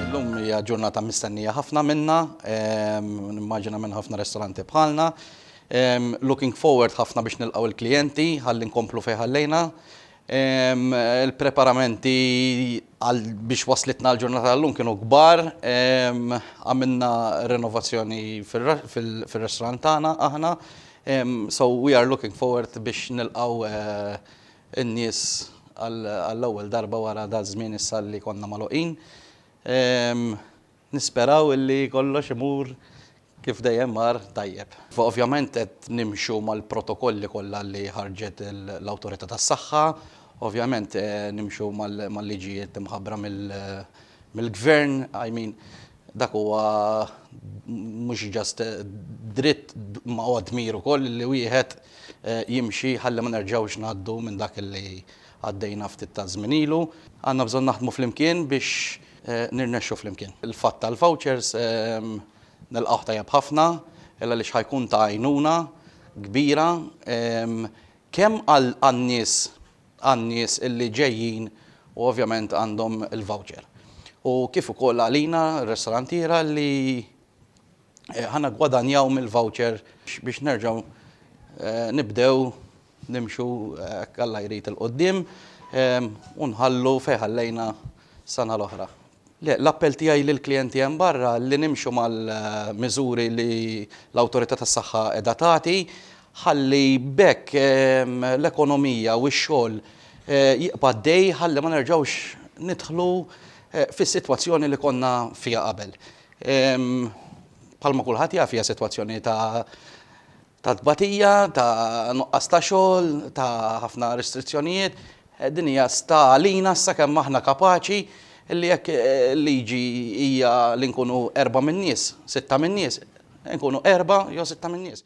Illum hija ġurnata mistennija ħafna minna, nimmaġina minn ħafna restoranti bħalna. Looking forward ħafna biex nilqgħu il-klijenti ħalli nkomplu fejn ħallejna. Il-preparamenti għal biex waslitna l-ġurnata tal-lum kienu kbar. Għamilna renovazzjoni fir-restorant tagħna aħna. We are looking forward biex nilqgħu in-nies għall-ewwel darba wara dal-żmien issa li konna magħluqin. Nisperaw illi kollox imur kif dejjem mar tajjeb. Ovvjament qed nimxu mal-protokolli kollha li ħarġet l-Awtorità tas-Saħħa, ovvjament nimxu mal-liġijiet imħabbra mill-Gvern, I mean Dak huwa mhux just dritt imma huwa dmir ukoll li wieħed jimxi ħalli ma nerġgħux ngħaddu minn dak li għaddejna ftit taż-żmien ilu. Għandna bżonn naħdmu flimkien biex nirnexxu flimkien. Il-fatt tal-vouchers nilqgħuh tajjeb ħafna għaliex ħa jkun ta' għajnuna kbira kemm għan-nies għan-nies li ġejjin u ovvjament għandhom il-voucher. U kif ukoll għalina, r-restorantiera, li ħa niggwadanjaw mill-voucher biex nerġgħu nibdew nimxu hekk Alla jrid 'il quddiem u nħallu fejn ħallejna s-sena l-oħra. Le, l-appell tiegħi lill-klijenti hemm barra li nimxu mal-miżuri li l-Awtorità tas-Saħħa qiegħda tagħti ħalli b'hekk l-ekonomija u x-xogħol jibqa' għaddej ħalli ma nerġgħux nidħlu fis-sitwazzjoni li konna fiha qabel. Bħalma kulħadd jaf hija sitwazzjoni ta' ta' tbatija, ta' nuqqas ta' xogħol, ta' ħafna restrizzjonijiet, din hija sta għalina issa kemm aħna kapaċi li jekk il-liġi hija li nkunu erbgħa min-nies, sitta min-nies, inkunu erbgħa jew sitta min-nies.